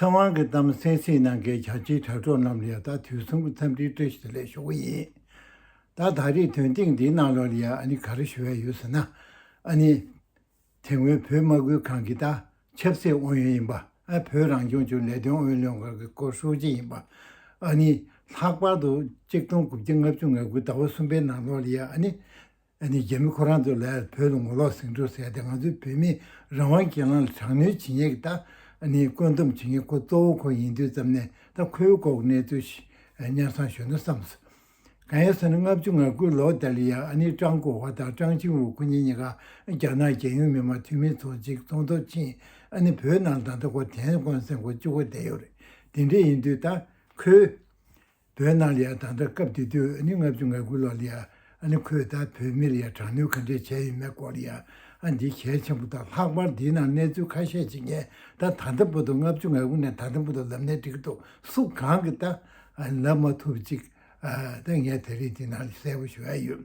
ཚེ་དབང་གི་གཏམ་གསན་སྲིད་གནང་མཁན་བྱ་བྱེད་དྲ་གྲོགས་རྣམས་ལ་ད་དུས་གསུམ་གྱི་འཚམས་འདྲིའི་བཀྲ་ཤིས་བདེ་ལེགས་ཞུ་གི་ཡིན། ད་ད་རེས་དོན་སྟེང་འདིའི་གནང་ལོག་ལ་ཡང་ཨ་ནི་ག་རེ་ཞུ་ཡ་ཡོད་ཟེར་ན། ཨ་ནི། དེ་སྔོན་བོད་དམག་ཁུལ་ཁང་གི་ད་ཆབ་སྲིད་ཨུ་ཡོན་ཡིན་པ་ཨ་བོད་རང་སྐྱོང་ཅུའུ་ལས་དོན་ཨུ་ཡོན་ལྷན་ཁང་གི་སྐོར་ཧྲུའུ་ཅི་ཡིན་པ་ཨ་ནི། ལྷག་པར་དུ་གཅིག་སྟོང་དགུ་བརྒྱ་ལྔ་བཅུ་ང་དགུའི་ཟླ་བ་གསུམ་པའི་ནང་ལོག་ལ་ཡང་ཨ་ནི། ཨ་ནི་རྒྱ་མི་ཁོ་རང་ཚོ་ལས་བོད་དུ་ངོ་ལོག་ཟིང་འཁྲུག་ཟེར་ཏེ་ང་ཚོའི་བོད་མིའི་རང་དབང་གི་གྱེན་ལངས་ལ་དྲག་གནོན་བྱེད་ཉེས་ཀྱི་ད་ནི་བཀོད་འདོམས་བྱེད་མཁན་ཁོ་གཙོ་བོ་ཁོ་ཡིན་དུས་ཙམ་ནས་ད་ཁོའི་ལྐོག་གནས་རྩོད་གཞི་གཉར་ཚང་ཞོར་ན་བསམ་སོང། གང་ཡིན་ཟེར་ན་ལྔ་བཅུ་ང་དགུ་ལོ་དེར་ལི་ཡཱ་ཨ་ནི་ཀྲང་ཀོ་བྷ་དང་ཀྲང་ཆིང་ཝུ་ཁོ་གཉིས་གཉིས་ཀ་རྒྱ་ནག་རྒྱལ་ཡོངས་མི་དམངས་འཐུས་མི་ཚོགས་ཆེན་ཚོགས་འདུར་ཕྱིན་ཨ་ནི་བོད་ནང་ད་ལྟ་ཁོ་དན་ཀོན་སེང་ཁོ་བཅུ་གོ་བསྡད་ཡོད་རེད་དེ་འདྲས་ཡིན་དུས་ད་ཁོའི། བོད་ནང་ལ་ཡང་ད་ལྟ་སྐབས་དེ་དུས་ཨ་ནི་ལྔ་བཅུ་ང་དགུ་ལོར་ལ་ཡང་ཨ་ནི་ཁོས་ད་བོད་མི་ལ་ཡང་དྲག་གནོན་ག་འདྲས་བྱས་ཡོད་མེད་སྐོར་ལ་ཡང་ཨ་འདི་གལ་ཆེན་པོ་དང་ལྷག་པར་འདིའི་ནང་གནས་ཚུལ་ཁ་ཤས་ཤིག་ངས་ད་ད་ལྟ་བུ་དུ་ལྔ་བཅུ་ང་དགུ་ནས་ད་ལྟ་བུ་དུ་ལབ་ནས་འགྲིག་འདུག་སུ་གང་གིས་ད་ལབ་མ་ཐུབ་ཅིག་ད་ངས་དེ་རིང་འདི་ནང་ལ་གསལ་པོ་ཞུ་ཡ་ཡོད།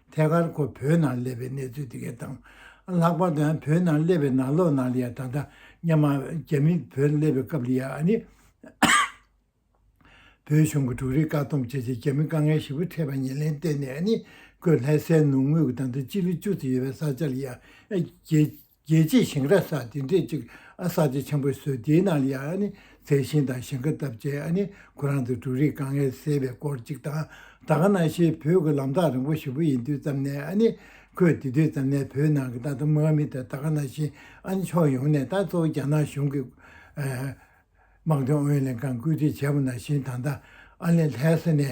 ཐད་ཀར་ཁོ་བོད་ནང་སླེབས་པའི་གནས་ཚུལ་དེ་གའི་དང་ལྷག་པར་དུ་ཡང་བོད་ནང་སླེབས་པའི་ནང་ལོགས་ནང་ལ་ཡང་ད་ལྟ་སྙམ་མ་རྒྱ་མི་བོད་སླེབས་པའི་སྐབས་ལ་ཡང་ཨ་ནི། བོད་གཞུང་གི་དྲུག་རིག་བཀག་སྡོམ་བྱས་རྗེས་རྒྱ་མི་དཀའ་ངལ་ཞིབ་པོ་འཕྲད་པ་ཉེར་ལེན་གཏན་ནས་ཨ་ནི། ཀོས་ལྷའི་སའི་ནུབ་ངོས་ཀྱི་ད་དུང་སྤྱི་ལེ་བཅུ་ཙམ་ཡོད་པའི་ས་ཆ་ལ་ཡང་རྒྱལ། རྒྱལ་གཅེས་ཞིང་ར་ས་དེ་འདྲས་ཅིག་ཨ་ས་ཆ་ཆེན་པོའི་སྲོལ་དེའི་ནང་ལ་ཡང་ཨ་ནི་མཛེས་ཤིང་དང་ཞིང་ཁ་བཏབ་རྗེས་ཨ་ནི་ཁོ་རང་ཚོས་འབྲུ་རིགས་དཀའ་ངལ་སེལ་བའི་སྐོར་ཅིག་དང་ད་ག་ན་ཤེས་བོད་ཀྱི་ལམ་ཐག་རིང་པོ་ཞིག་པོ་ཡིན་དུས་ཙམ་ནས་ཨ་ནི་ཁོས་དེ་དུས་ཙམ་ནས་བོད་ནང་གི་ཏང་དང་དམག་མི་དང་ད་ག་ན་བཞིན་ཨ་ནི་ཕྱོགས་ཡོངས་ནས་དང་གཙོ་བོ་རྒྱ་ནག་གཞུང་གི་དམག་དོན་ཨུ་ཡོན་ལྷན་ཁང་བཀོད་སྒྲིག་བྱས་པ་ནང་བཞིན་ད་ལྟ་ཨ་ནི་ལྷའི་ས་ནས་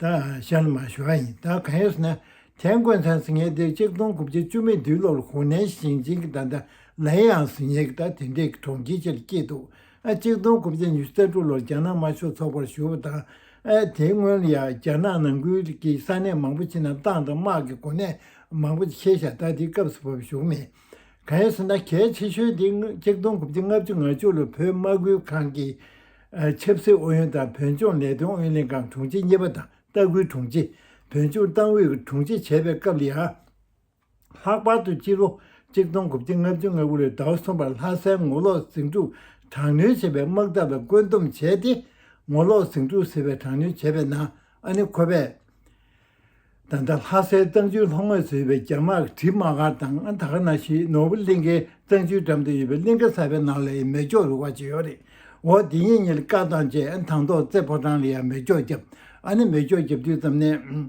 ད་ཤར་ལ་མ་ཞུ་བ་ཡིན་ད་གང་ཡོད་ཟེར་ན་དེ་མགོན་ཚང་ཟིང་ངེ་འདིར་གཅིག་སྟོང་དགུ་བརྒྱ་བཅུ་མེད་དུས་ལོར་ཧོ་ནན་ཞིང་ཆེན་གྱི་ད་ད་ལའི་ཡང་ཟིང་ངེ་གི་ད་དེ་འདྲའི་གི་གྲོང་ཁྱེར་ཆེ་རུ་སྐྱེས་འདུག་ཨ་གཅིག་སྟོང་དགུ་བརྒྱ་ཉི་ཤུ་རྩ་དྲུག་ལོར་རྒྱ་ནག་དམར་ཤོག་ཚོགས་པར་ཞུ་བ་དང་ཨ་དེའི་སྔོན་ལ་ཡང་རྒྱ་ནག་ནང་ཁུལ་གྱི་ས་གནས་མང་པོ་ཆེ་རྣམས་ཏང་དང་དམག་གི་གོ་གནས་མང་པོ་ཆེ་ཤ་སྟག་དེའི་སྐབས་སུ་བབས་བཞུགས་མེད། གང་ཡོད་ཟེར་ན་གལ་ཆེ་ཤོས་དེ་གཅིག་སྟོང་དགུ་བརྒྱ་ལྔ་བཅུ་ང་བཅུ་ལོར་བོད་དམག་ཁུལ་ཁང་གི་ཆབ་སྲིད་ཨུ་ཡོན་དང་བོད་ལྗོངས་ལས་དོན་ཨུ་ལྷན་ཁང་དྲུང་ཆེ་གཉིས་པ་དང་ལྟ་སྐུལ་དྲུང་ཆེ། བོད་ལྗོངས་ཏང་ཨུད་ཀྱི་དྲུང་ཆེ་བྱས་པའི་སྐབས་ལས་ཨ། ལྷག་པར་དུ་སྤྱི་ལོ་གཅིག་སྟོང་དགུ་བརྒྱ་ལྔ་བཅུ་ང་དགུ་ལོའི་ཟླ་བ་གསུམ་པར་ལྷ་སའི་ངོ་ལོག་ཟིང་འཁྲུག་དྲག་གནོན་བྱས་པའི་དམག་འཐབ་ལ་བཀོད་འདོམས་བྱས་ཏེ། ངོ་ལོག་ཟིང་འཁྲུག་ཟེར་བའི་དྲག་གནོན་བྱས་པའི་ནང་ཨ་ནི་ཁོ་པས། ད་ལྟ་ལྷ་སའི་གཙང་ཆུའི་ལྷོ་ངོས་སུ་ཡོད་པའི་རྒྱ་དམག་གྲིབ་མ་ག་དང་ཨ་དྷ་ག་ན་ཞེས་ནོར་བུ་གླིང་ཁའི་གཙང་ཆུའི་འགྲམ་དུ་ཡོད་པའི་གླིང་ཁ་གསར་པའི་ནང་ལ་ཡང་མེ་སྒྱོགས་རུ་བ་ཇི་ཡོང་རེད་འོ་དེ་ཉིད་ཉིད་བཀག་བཏང་རྗེས་དང་ཐོག་རྩེ་ཕོ་བྲང་ལ་ཡང་མེ་སྒྱོགས་བརྒྱབ་ཨ་ནི་མེ་སྒྱོགས་བརྒྱབ་དུས་ཙམ་ནས།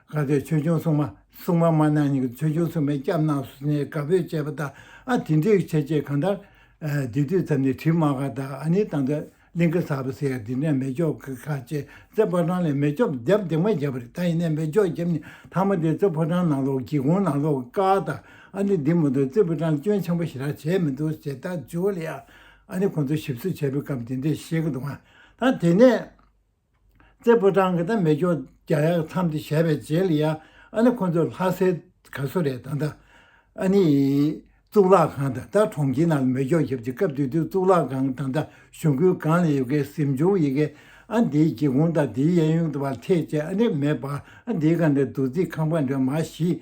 དགའ་བདེ་ཆོས་སྐྱོང་སྲུང་མ་སྲུང་མ་མ་གནང་གཉིས་ཀྱི་ཆོས་སྐྱོང་སྲུང་མའི་སྐྱབས་གནང་སོ་ནས་དགའ་བོས་དཔྱད་པ་དང་ཨ་དེ་འདྲའི་ཆེ་ཆེ་གང་ལྟར། འདི་དུས་མཚམས་ནས་བྲིས་མ་ག་ད་ཨ་ནི་ད་འདྲ་གླིང་ཁ་ཟག་པ་ཟེར་ཡ་འདི་འདྲ་མེ་སྒྱོགས་ཀི་ཁ་ཆེ་རྩེ་ཕོ་བྲང་ལས་མེ་སྒྱོགས་རྒྱབ་འདེགས་མ་བརྒྱབ་པ་རེད་ད་ཡིན་ནའི་མེ་སྒྱོགས་བརྒྱབ་ནས་ཐང་མ་དེ་རྩེ་ཕོ་བྲང་ནང་ལོག་སྒེའུ་ཁུང་ནང་ལོག་ག་ད་ཨ་ནི་འདི་མ་འདུག་རྩེ་ཕོ་བྲང་སྐྱོན་ཆེན་པོ་ཞེ་དྲག་བྱས་མི་འདུག་ཞེ་ད་ཇོ་ལེ་ཡ་ཨ་ནི་ཁོང་ཚོ་ཞིབ་བཟོ་བྱས་པའི་སྐབས་འདི་འདྲའི་བཤད་ཀི་འདུག་ང་ད་དེ་ནས། རྩེ་ཕོ་བྲང་གི་ད་མེ་སྐྱོ་རྒྱ་ཡག་མཚམས་དེ་བཞད་པའི་རྗེས་ལ་ཡང་ཨ་ནི་ཁོ་ཚོ་ལྷ་སའི་ག་སུ་རེད་ད་ད། ཨ་ནི་གཙུག་ལག་ཁང་ད་ད་གྲོང་ཁྱེར་ནང་ལ་མེ་སྐྱོ་བཞད་ཀྱི་སྐབས་དུས་དེར་གཙུག་ལག་ཁང་ད་ད་གཞུང་ཁུལ་གང་ལ་ཡོད་ཀའི་གཟིམ་ཆུང་ཡི་གེ་ཨ་འདིའི་སྒེའུ་ཁུང་ད་འདིའི་གཡས་གཡོན་དུ་བར་ཐེག་བཅས་ཨ་ནི་མེད་པ་ཨ་འདིའི་ག་ནས་རྡོ་རྩིག་ཁང་པ་འདྲ་མ་ཞིག་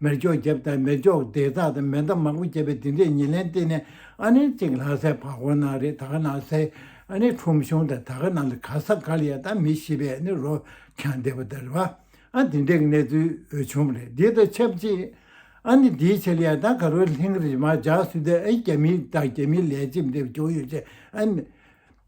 མེར་སྒྱོགས་བརྒྱབ་དང་མེར་སྒྱོགས་བརྡེག་རྟགས་དང་མེ་མདའ་མང་པོ་བརྒྱབ་པའི་འདི་འདྲའི་ཉེར་ལེན་བསྟེན་ནས་ཨ་ནེ་གཅིག་ལྷ་སའི་བར་ཧོར་ནང་རེད་ད་ག་ན་སའི་ཨ་ནེ་ཁྲོམ་གཞུང་དང་ད་ག་ན་ལ་ག་ས་ག་ལ་ཡ་ད་མི་ཤི་བའི་ཨ་ནེ་རོ་ཁྱང་བསྡད་པ་དར་བ་ཨ་འདི་འདྲའི་གནས་ཚུལ་འོས་འཕྱོང་རེད་འདི་དང་ཆབས་ཅིག་ཨ་ནེ་འདིའི་ཆེད་ལ་ཡ་ད་ག་རོའི་ལྷིང་རེ་མ་འཇགས་སུས་བསྡད་ཨ་རྒྱ་མི་དང་རྒྱ་མི་ལས་བྱེད་འདེབས་ཀྱོག་ཡོད་ཆེ་ཨ་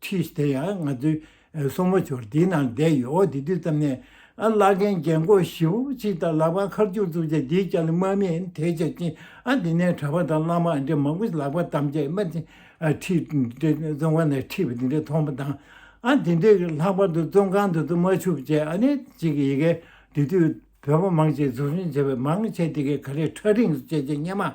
ཁྲིས་དེ་ཡང་ང་ཚོའི་སོག་མོ་ཆུར་དེའི་ནང་བསྡད་ཡོད་འོ་དེ་དུས་ཙམ་ནས་ཨ་བླ་རྒན་རྒན་འཁོགས་བཞི་བོ་གཅིག་དང་ལག་པ་མཁར་རྒྱུག་བཙུགས་རྗེས་དེའི་སྐྱ་ལོ་དམར་མིན་དེ་བྱས་ཅིང་ཨ་དེ་ནས་གྲྭ་པ་དང་བླ་མ་ཨ་འདྲེ་མང་པོ་ཞིག་ལག་པ་བསྡམས་རྗེས་སྨད་ཚིག་ཁྲིས་འདྲེ་བཙོན་ཁང་ནས་ཁྲིད་པ་དེ་འདྲ་མཐོང་པ་དང། ཨ་དེ་འདྲེ་ལྷག་པར་དུ་བཙོན་ཁང་དུ་བཙུད་མ་ཆུག་ཅེས་ཨ་ནེ་གཅིག་གི་ཡི་གེ་དེ་དུས་བོད་པ་མང་ཞིག་འཛུགས་སྐྲུན་བྱས་པའི་མང་ཆེ་དེ་གའི་ག་རེ་ཁྲ་རིང་སོ་སྐྱེས་ཆེ་སྙེ་མ།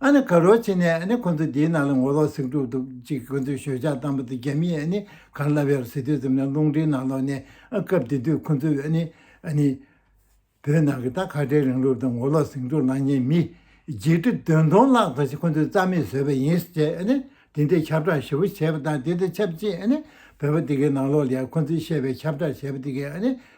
ཨ་ནི་ག་རོ་ཆེ་ནས་ཨ་ནི་ཁོ་ཚོ་དེའི་ནང་ལ་ངོ་ལོག་ཟིག་འགྲོ་འདུག་ཅིག་ཁོ་ཚོས་ཞོད་ཆགས་བཏང་པ་དང་རྒྱ་མིས་ཨ་ནི་གར་ལབ་ཡར་ཟི་དུས་ཙམ་ནས་རླུང་འཕྲིན་ནང་ལོག་ནས་ཨ་སྐབས་དེ་དུས་ཁོ་ཚོས་ཨ་ནི་ཨ་ནི། བོད་ནང་གི་ད་ཁ་བྲལ་རིང་ལུགས་དང་ངོ་ལོག་ཟིག་འགྲོ་ལངས་མཁན་མི་བརྒྱད་ཁྲི་བདུན་སྟོང་ལྷག་དང་ཞིག་ཁོ་ཚོས་རྩ་མེད་བཟོས་པ་ཡིན་ཟེར་ཨ་ནི་དེ་འདྲའི་ཁྱབ་བསྒྲགས་ཞིབ་པོ་བྱས་པ་དང་དེ་དང་ཆབས་ཅིག་ཨ་ནི་བོད་པ་དེ་གའི་ནང་ལོག་ལ་ཡར་ཁོ་ཚོས་བཤད་པའི་ཁྱབ་བསྒྲགས་བྱས་པ་དེ་གའི་ཨ་ནི་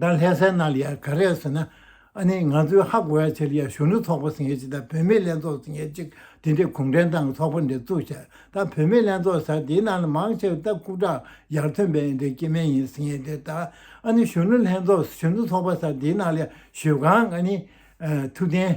ད་ལྷས་སའི་ནང་ལ་ཡང་ག་རེ་ཟེར་ན། ཨ་ནི་ང་ཚོའི་ཧ་གོ་བའི་ཆེད་ལ་ཡང་གཞོན་ནུ་ཚོགས་པ་ཟེར་མཁན་ཅིག་དང་བུད་མེད་ལྷན་ཚོགས་ཟེར་མཁན་ཅིག་དེ་འདྲའི་གུང་ཁྲན་ཏང་གི་ཚོགས་པ་འདི་བཙུགས་ཤག་ད་བུད་མེད་ལྷན་ཚོགས་ཟེར་དེའི་ནང་ལ་མང་ཆེ་བ་ད་ཁུག་དྲག་ཡར་ཐོན་པའི་འདྲའི་སྐྱེ་དམན་ཡིན་ཟེར་མཁན་དེ་ད་ཨ་ནི་གཞོན་ནུ་ལྷན་ཚོགས་གཞོན་ནུ་ཚོགས་པ་ཟེར་དེའི་ནང་ལ་ཡང་ཞོལ་གངས་ཨ་ནི། ཐུབ་བསྟན།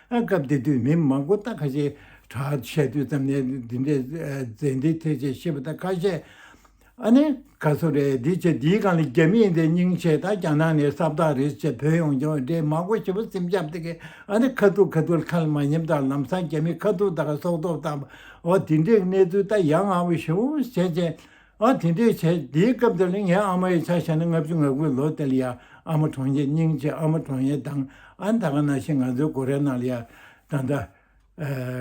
སྐབས་དེ་དུས་མི་མང་པོ་རྟ་ཁ་ཤས་དྲག་ཆས་དུས་ཙམ་ནས་འདི་འདྲའི་རྫས་འདི་ཐོས་ཆས་ཤེས་པ་དང་ཁ་ཤས་ཨ་ནེ་ག་ཚོ་རེད་འདི་བྱས་འདིའི་སྒང་ལ་རྒྱ་མི་ཡིན་དེ་སྙིང་ཆེ་ད་རྒྱ་ནག་ནས་གསབ་རྟགས་རེད་བྱས་བོད་ཡོང་རྒྱ་འོད་འདྲེ་མང་པོ་ཞེ་པོ་སེམས་ཆབ་དེ་གས་ཨ་ནེ་ཁ་ཐུག་ཁ་ཐུག་ཁ་ལ་མ་ཉེམས་དང་ལམ་སང་རྒྱ་མི་ཁ་ཐུག་དག་སྲོག་ཐོབ་དང་བ་འདི་འདྲའི་གནས་ཚུལ་ད་ཡ་ང་བོ་ཞེ་བོ་བྱས་བྱས་ཨ་དེ་འདྲས་བྱས་དེའི་སྐབས་དེར་ངའི་ཨ་མ་ཡི་ཆ་ཞེ་ན་ལྔ་བཅུ་ང་དགུའི་ལོ་དེ་ལ་ཡ་ཨ་མ་གྲོང་ཁྱེར་རྙིང་ཆེ་ཨ་མ་གྲོང་ཡེ་དང་ཨ་མདའ་ག་ན་ཤི་ང་ཚོའི་སྒོ་རའི་ནང་ལ་ཡ་ད་ལྟ་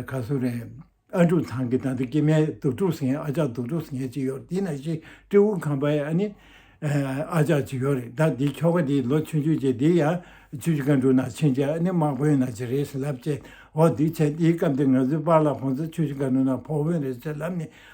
ག་སུ་རེད་ཨ་འབྲུག་ཚང་གི་ད་ལྟ་སྐྱེས་མའི་དུག་ཕྲུག་སེང་ཨ་ཅག་དུག་ཕྲུག་སེང་ཅིག་ཡོད་དེ་ན་ཤི་སྤྲེ་འུ་ཁམས་པ་ཡ་ཨ་ནི་ཨ་ཅག་ཅིག་ཡོད་རེད་ད་དེའི་ཁྱོ་ག་དེའི་ལོ་ཆུང་ཆུང་བྱས་དེའི་ཡ་ཆུ་ཆུ་ག་འབྲུག་ནང་ཕྱིན་བྱས་ཨ་ནི་དམག་དཔོན་ན་ཅིག་རེད་ཟེར་ལབ་བྱས་འོ་དེ་བྱས་དེའི་སྐབས་དེར་ང་ཚོའི་པར་ལ་ཁོང་ཚོ་ཆུ་ཆུ་ག་འབྲུག་ནང་ཕོག་དཔོན་རེད་ཟེར་ལབ་ནས་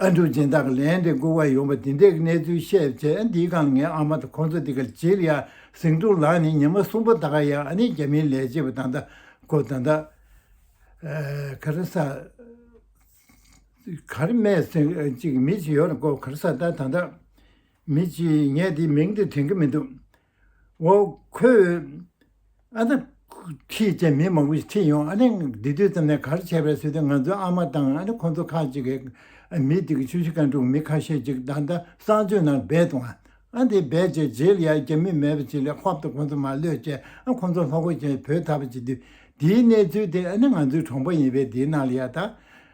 ཨ་འབྲུག་ཅན་དག་ལན་རེ་མགུ་བར་ཡོང་བ་འདི་འདྲའི་གནས་ཚུལ་བཤད་རྗེས་འདི་གང་ངའི་ཨ་མ་དང་ཁོང་ཚོ་འདི་གར་གྱེར་ཡ་གཟིགས་འབྲུག་ལགས་ནི་ཉི་མ་གསུམ་པོ་ད་ག་ཡ་ཨ་ནི་རྒྱ་མིའི་ལས་བྱེད་པ་དང་ད་གོ་ད་ད་ག་རེ་ས་གར་སྨད་ཟིག་ཅིག་མི་ཅིག་ཡོད་ན་གོ་གར་ས་ད་ད་ད་མི་ཅིག་ངས་འདི་མིང་འདི་དྲན་གི་མི་འདུག་འོ། ཁོས། ཨ། ད། ཁྱེད་ཅག་མི་མང་པོ་ཞིག་ཁྲིད་ཡོང། ཨ། འདི་དུས་ཙམ་ནས་གར་བྱས་པའི་ཚུལ་དུ་ང་ཚོའི་ཨ་མ་དང་ཨ། ཁོ་ཚོ་ཁག་ཅིག་གིས། མི་དེ་གི་ཆུ་བཞི་ཁ་འབྲུག་མི་ཁ་ཤས་ཅིག་ད་ལྟ་གསང་སྤྱོད་ནང་སྦས་འདུག་ཨ། དེ་སྦས་བྱས་རྗེས་ལ་ཡར་རྒྱ་མི་མེད་པ་ཅིག་ལས་ཧོབ་ཏུ་ཁོ་ཚོ་མ་གློད་ཅེས་ཨ། ཁོ་ཚོ་ལྷོ་སྒོ་ཅན་བོས་ད་པ་ཅིག་དུས། དེའི་གནས་ཚུལ་དེ་ཨ། ང་ཚོའི་གྲོང་པ་ཡིན་པས་དེའི་ནང་ལ་ཡར་ད།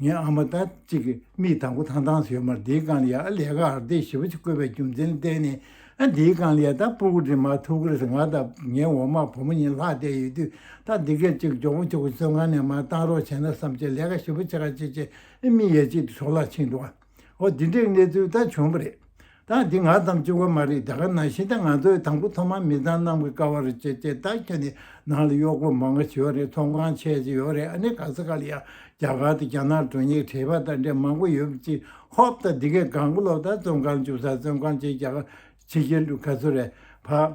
ངའི་ཨ་མ་ད་ཅིག་གི་མིག་དང་པོ་ཐང་ཐང་ཟེར་མར་འདིའི་རྐང་ལིའ་ཨ་ལས་ཀ་ཨར་འདེད་ཞིབ་པོ་ཅིག་བཀོད་པའི་རྒྱུ་མཚན་བསྟན་ནས་ཨ་འདིའི་རྐང་ལིའ་ད་སྤུ་གུ་འདྲེ་མར་ཐུག་གིས་ང་དང་ངའི་འོ་མ་བུ་མོ་གཉིས་ལྷག་བསྡད་ཡོད་དུས་ད་འདི་སྐད་ཅིག་མགྱོགས་པོ་ཁྱོད་ཀྱི་བཙོན་ཁང་ནས་མར་བཏང་རོགས་བྱས་ན་བསམ་གྱི་ལས་ཀ་ཞིབ་པོ་བྱེད་ག་ཅེས་ཅེས་མིག་ཡས་གཅིག་ཏུ་ཞོགས་ལ་ཕྱིན་འགྲོ། འོ་འདི་འདྲའི་གནས་ཚུལ་ད་བྱུང་བ་རེད། ད་འདི་ང་ཙམ་གཅིག་བ་མ་རེད་རྒྱ་གར་ནང་ཤིན་ཏེ་ང་ཚོའི་དང་པོ་ཐོག་མ་མི་ཚང་རྣམས་ཀྱི་ཀ་བ་རེད་ཅེས་ཅེས་ད་ཁྱེད་ནས་ནང་ལ་གཡོག་པོ་མང་པོ་བྱེད་བ་རེད་ཚོང་ཁང་ཆད་ཀྱི་ཡོད་རེད་ཨ་ནི་ག་ས་ག་ལ་ཡང་རྒྱ་གར་དང་རྒྱ་ནག་དྲུང་ཡིག་བྲེལ་བ་ད་འདྲའི་མང་པོ་ཡོད་པ་ཅིག་ཧོབ་ད་འདི་གའི་གངས་ཀློག་ད་བཙོན་ཁང་བཅུག་ས་བཙོན་ཁང་ཆེ་རྒྱ་གར་ཕྱི་རྒྱལ་དུ་ག་ཚོད་རེད་ཕ།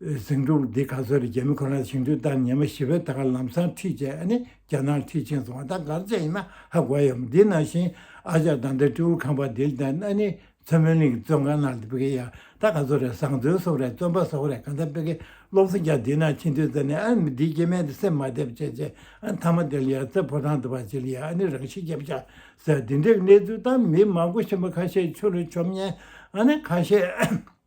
ཟིང་འཁྲུག་འདི་ག་ཚོད་རེད་རྒྱ་མི་ཁོ་ནར་ཞིང་དུད་ལྟར་ཉེས་མ་ཞི་བས་ད་ག་ལམ་སང་ཁྲིད་བྱས་ཨ་ནི་རྒྱ་ནག་ཁྲིད་ཕྱིན་སོང་བ་ད་གར་བྱས་ཡིན་ན་ཧ་གོ་ཡམ་འདི་ན་བཞིན་ཨ་ཅག་དང་འདྲ་སྤྲེའུ་ཁང་པ་འདི་ལྟར་ཨ་ནི་མཚོན་མོན་གླིང་གི་བཙོན་ཁང་ནང་དུ་སྤེ་གི་ཡ་ད་ག་ཚོད་རེད་བཟང་བཙོན་བསོག་རེད་བཙོན་པ་བསོག་རེད་གང་ད་སྤེ་གི་སློབ་གསོ་རྒྱ་འདི་ན་ཕྱིན་དུས་རྩ་ནས་ཨ་མི་འདི་སྐྱེ་མེད་དུ་སེམས་མ་བདེ་བ་བྱས་བྱས་ཨ་མཐའ་མ་དེ་ལ་ཡ་རྩེ་ཕོ་བྲང་དུ་བ་བྱེད་ལ་ཡ་ཨ་ནི་རང་ཤི་རྒྱབ་བྱ་ཟེར་འདི་འདྲའི་གནས་ཚུལ་དང་མི་མང་པོ་ཤི་མ་ཁ་ཤས་ཆུ་ལ་ཆོམ་ཉེན་ཨ་ནི་ཁ་ཤས།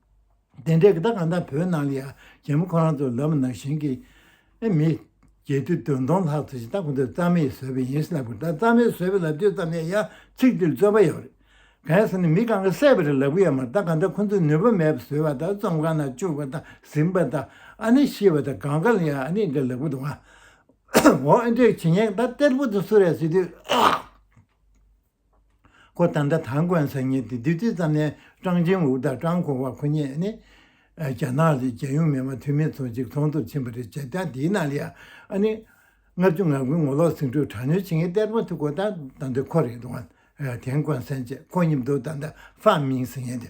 དེ་འདྲའི་གདའ་གང་དང་བོའི་ནང་ལ་ཡང་རྒྱལ་མོ་ཁོ་རང་ཚོ་ལབ་ན་གཞན་གྱི་མི། རྒྱལ་དུས་དོན་སྟོང་ལྷག་ཚོ་ཞིག་ད་གོ་འདོད་རྩ་མེད་བཟོས་པ་ཡིན་ལབ་དགོས་ད་རྩ་མེད་བཟོས་པ་ལབ་དུས་ཙམ་ནས་ཡང་ཚིག་འདིར་བརྩོན་པ་ཡོད་རེད། གལ་སྲིད་ནས་མི་གང་གི་སྲས་པ་རེ་ལབ་གི་ཡོད་མ་ད་ག་འདྲ་ཁོ་ཚོས་ནུས་པ་མེད་པ་བཟོས་པ་ད་རྩོམ་གང་ན་བཅུག་པ་ད་ཟིན་པ་ད་ཨ་ནི་ཤི་བ་ད་གང་ག་ལ་ཡང་ཨ་ནི་འདྲ་ལབ་གི་འདུག་ཨ་འོ་ཨེ་འདྲའི་བྱེད་ཉེས་ད་གཏེར་བུ་དེ་སུ་རེད་ཟེར་དུས། ཁོ་ད་ལྟ་ཐང་གོན་ས་ཉིན་དེ་དུས་ཙམ་ནས་ཀྲང་ཅིན་ཝུའུ་དང་ཀྲང་ཁོང་བ་ཁོ་གཉིས་ནི་རྒྱ་ནག་གི་རྒྱལ་ཡོངས་མི་དམངས་འཐུས་མི་ཚོ་གཅིག་མཚུངས་དུ་ཕྱིན་པ་རེད་བྱས་ཙང་དེའི་ནང་ལ་ཡང་ནི་ལྔ་བཅུ་ང་དགུའི་ངོ་ལོག་ཟིང་འཁྲུག་དྲག་གནོན་བྱེད་མཁན་གཏེར་དཔོན་ཐུ་གོ་ཐང་དང་དུ་ཁོ་རེད་འདུག་ཨ་ཐེན་གོན་སན་ཅེས་ཁོ་གཉིས་མདོ་ད་ལྟ་ཧྥ་མིང་ཟེར་མཁན་དེ་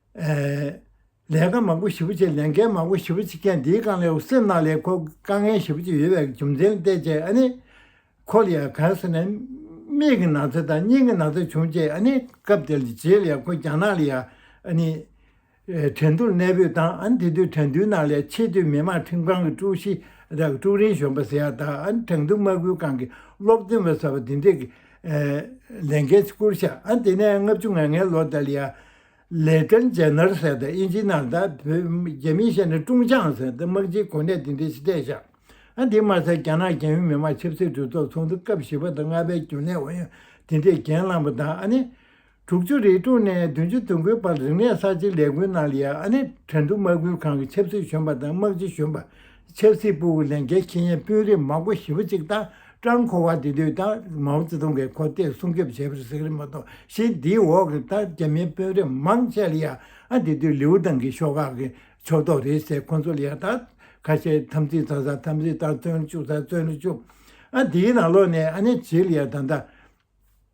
ལས་ཀ་མང་པོ་ཞིབ་པོ་བྱེད་ལས་འགན་མང་པོ་ཞིབ་པོ་བྱེད་མཁན་འདིའི་རྐང་ལས་སེམས་ནང་ལས་ཁོ་དཀའ་ངལ་ཞིབ་པོ་བྱེད་ཡོད་པའི་རྒྱུ་མཚན་བལྟས་རྗེས་ཨ་ནི། ཁོ་ལ་ཡང་གང་སེ་ན་མིག་གི་ན་ཚ་དང་སྙིང་གི་ན་ཚ་བྱུང་རྗེས་ཨ་ནི་སྐབས་དེར་རྗེས་ལས་ཁོ་རྒྱ་ནག་ལ་ཡང་ཨ་ནི། དྲན་གདུང་གནས་སྤོས་དང་ཨ་ནི་དེ་དུས་དྲན་གདུང་ནང་ལས་ཆེས་མཐོའི་མི་དམངས་ཁྲིམས་ཁང་གི་ཀྲུའུ་ཞི་རག་ཀྲུའུ་རིན་གཞོན་པ་ཟེར་ཡག་དང་ཨ་ནི་དྲང་གདུང་དམག་ཁུལ་ཁང་གི་སློབ་སྟོན་པ་ཟེར་བ་འདི་འདྲས་ཀྱི་ལས་འགན་བསྐུར་བཞག་ཨ་ནི་དེ་ནས་ལྔ་བཅུ་ང་ལྔའི་ལོ་དེར་ལ་ཡང་ལེ་ཀྲན་ཇེ་ནར་སེ་དང་དབྱིན་ཇི་ནར་དང་བོད་རྒྱ་མི་ཤེས་ནས་ཀྲུང་ཅང་སེ་དང་དམག་སྤྱི་གོ་གནས་དེ་འདྲའི་ཆེ་གྲས་བཞག་ཨ་དེ་མ་ཚད་རྒྱ་ནག་རྒྱལ་ཡོངས་མི་དམངས་ཆབ་སྲིད་གྲོས་ཚོགས་ཚོགས་འདུ་སྐབས་བཞི་པ་དང་ལྔ་པའི་རྒྱུན་ལས་ཨུ་ཡོན་དེ་འདྲས་གྱེན་བླངས་པ་དང་ཨ་ནེ། དྲུག་ཅུ་རེ་དྲུག་ནས་བདུན་ཅུ་དོན་དགུའི་བར་རིག་གནས་གསར་བརྗེའི་ལས་འགུལ་ནང་ལ་ཡང་ཨ་ནེ་དྲན་གྲུབ་དམག་ཁུལ་ཁང་གི་ཆབ་སྲིད་གཞོན་པ་དང་དམག་སྤྱི་གཞོན་པ་ཆབ་སྲིད་པུའུ་ཡི་ལས་འགན་ཁེ་ཡན་དཔོན་རིགས་མང་པོ་ཞི་བ་གཅིག་དང་ཀྲང་ཁོ་བ་དེ་དུས་དང་མའོ་ཙེ་ཏུང་གིས་གོ་བསྟོད་སྲུང་སྐྱོབ་བྱས་པར་གཟིགས་རིམ་མ་གཏོགས་གཞི་འདིའི་འོག་གི་ཐ་རྒྱ་མིའི་དཔོན་རིགས་མང་ཆེ་ལ་ཡང་དེ་དུས་ལིའུ་ཏང་གི་ཤོག་ཁག་གི་ཕྱོགས་གཏོགས་རེད་ཟེར་ཁོ་ཚོ་ལ་ཡང་དག་ཁ་ཤས་དམ་ཚིག་ཚང་ས་དམ་ཚིག་དང་བརྩོན་ལེན་བཅུག་ས་བརྩོན་ལེན་བཅུག་དེའི་ནང་ལོགས་ནས་ཨ་ནེ་བྱས་ལ་ཡང་ད་ལྟ།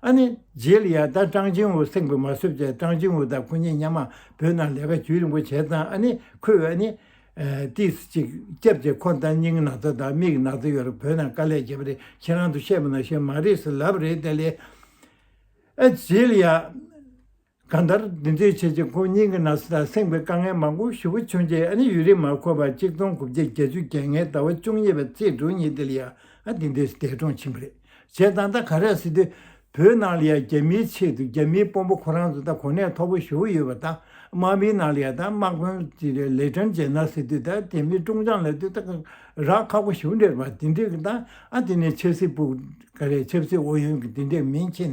ཨ་ནི། རྗེས་ལ་ཡང་ད་ཀྲང་ཅིན་ཝུ་སེང་བུ་མ་བསུབ་ཅེས་ཀྲང་ཅིན་ཝུ་དང་ཁོ་གཉིས་མཉམ་མང་བོད་ནང་ལས་ཀ་བྱུས་རིང་པོ་བྱས་ཙང་ཨ་ནི་ཁོས་ཨ་ནི། ཏིས་ཅིག་སྐྱབས་ཀྱིས་ཁོང་ལྟར་སྙིང་ན་ཚ་དང་མིག་ན་ཚ་ཡོད་ལ་བོད་ནང་དཀའ་ལས་བྱས་པ་རེད་ཁྱེད་རང་ཚོ་ཤེས་པ་ནང་བཞིན་མ་རེད་ཟེར་ལབ་རེད་ད་ལས། ཨ། རྗེས་ལ་ཡང། གང་ལྟར་འདི་ཚོའི་ཆེད་ཆེད་ཁོང་གཉིས་ཀྱི་ན་ཟུག་དང་སེམས་ཀྱི་དཀའ་ངལ་མང་པོ་ཧྲིལ་བོ་ཕྱུང་རྗེས་ཨ་ནི་ཡུན་རིང་མ་འཁོར་བར་གཅིག་སྟོང་དགུ་བརྒྱ་བརྒྱད་ཅུ་གྱ་ལྔའི་ཟླ་བ་བཅུ་གཉིས་པའི་ཚེས་དྲུག་ཉིན་དེ་ལ་ཡང་ཨ་དེ་འདས་འདས་གྲོངས་ཕྱིན་པ་རེད། བྱས་ཙང་ད་ག་རེ་སྲིད་དུས་བོད་ནང་ལ་ཡང་རྒྱ་མིའི་ཆེད་དུ་རྒྱ་མིའི་དཔོན་པོ་ཁོ་རང་ཚོ་ད་གོ་གནས་མཐོ་པོ་ཞུ་གི་ཡོད་པ་དང་དམག་མིའི་ནང་ལ་ཡང་ད་དམག་དཔོན་གྱི་ལས་དྲན་བྱས་ན་སྲིད་དུས་ད་དེ་མིན་ཀྲུང་ཅང་ལ་དུས་ད་རག་ཁག་པོ་ཞུ་འདྲེར་བ་དེ་འདྲས་ཀྱི་ད་ཨ་དེ་ནས་ཆབ་སྲིད་པུ་ག་རེ་ཆབ་སྲིད་ཨོ་ཡོན་གྱི་དེ་འདྲས་མིན་ཕྱིན་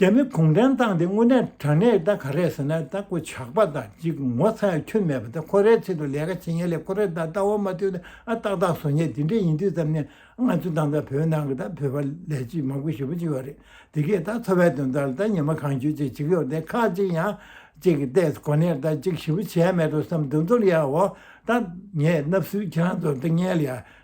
རྒྱ་མི་གུང་ཁྲན་བཏང་དེ་དངོས་གནས་དྲང་གནས་ད་ག་རེད་ཟེར་ན་ད་ཀོ་ཇག་པ་དང་གཅིག་ངོ་ཚ་ཡ་ཁྱོད་མེད་པ་ད་ཁོ་རའི་ཚིག་ཏུ་ལས་ཀ་བྱེད་མཁན་ལས་ཁོ་ར་ད་ལྟ་བ་མ་ཐོན་ཏེ་ཨ་ཏག་ཏག་བཟོ་ཉེས་དེ་འདྲས་ཡིན་དུས་ཙམ་ནས་ང་ཚོ་ད་ལྟ་བོད་ནང་གི་ད་བོད་པ་ལས་གཅིག་མང་པོ་ཞེ་པོ་གཅིག་བ་རེད་དེ་གས་ད་འཚོ་བའི་དོན་དག་ལ་ད་ཉི་མ་གང་བྱོས་ཅིག་བྱེད་ཀི་ཡོད་དེ་ཁག་གཅིག་ཡང་གཅིག་གི་ལྟས་གོ་ནས་ད་གཅིག་ཞེ་པོ་བྱས་ཡ་མེད་དོ་བསམ་དོན་ཚོར་ཡའོ་ད་ངས་ནབས་སུའི་ཁྱེད་རང་ཚོར་ད་ངལ་ཡ་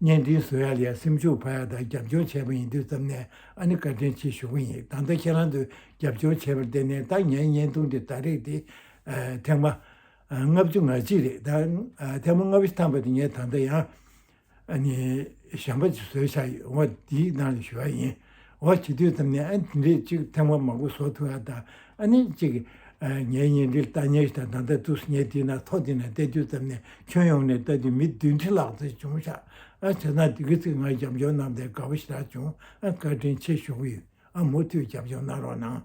བརྙན་འདི་བཟོ་ཡ་ལས་སེམས་ཤུགས་འཕར་ཡ་དང་རྒྱབ་སྐྱོར་བྱས་པ་ཡིན་དུས་ཙམ་ནས་ཨ་ནི་བཀའ་དྲིན་ཆེ་ཞུ་གི་ཡིན་ད་ལྟ་ཁྱེད་རང་ཚོས་རྒྱབ་སྐྱོར་བྱས་པར་བརྟེན་ནས་ད་ངའི་བརྙན་ཐུང་དེ་ད་རེག་དེ། ཐེངས་མ། ལྔ་བཅུ་ང་གཅིག་རེད་ད། ཐེངས་མ་ལྔ་བཅུ་ཐམ་པ་དེ་ངས་ད་ལྟ་ཡང། ཨ་ནི། ཞང་པ་བཟོས་ཆགས་ཡོད་འོང་བ་དེའི་ནང་ལས་ཞུ་བ་ཡིན། འོ་བྱེད་དུས་ཙམ་ནས་ཨ་ནེ་རེད་ཅིག་ཐེངས་བ་མང་པོ་ཟོག་ཐུ་ཨ་ད་ཨ་ནེ་ཅིག། ངའི་གཉེན་འབྲེལ་ཏཱ་ཉེ་ཞི་དང་ད་ལྟ་ཏུ་སི་ཉེ་དེ་ན་ཐོག་དེ་ན་བལྟས་དུས་ཙམ་ནས་ཁྱོན་ཡོངས་ནས་བལྟ་དུས་མི་བདུན་ཁྲི་ལྷག་ཙམ་བྱུང་ཤག་ཨ་བྱས་ན་དེ་གི་ཚིག་ངག་རྒྱབ་འཇོག་གནང་སྟེ་དགའ་བོ་ཞེ་དྲག་བྱུང་ཨ་བཀའ་དྲིན་ཆེ་ཞུ་གི་ཡོད་ཨ་མུ་མཐུད་རྒྱབ་འཇོག་གནང་རོགས་གནང།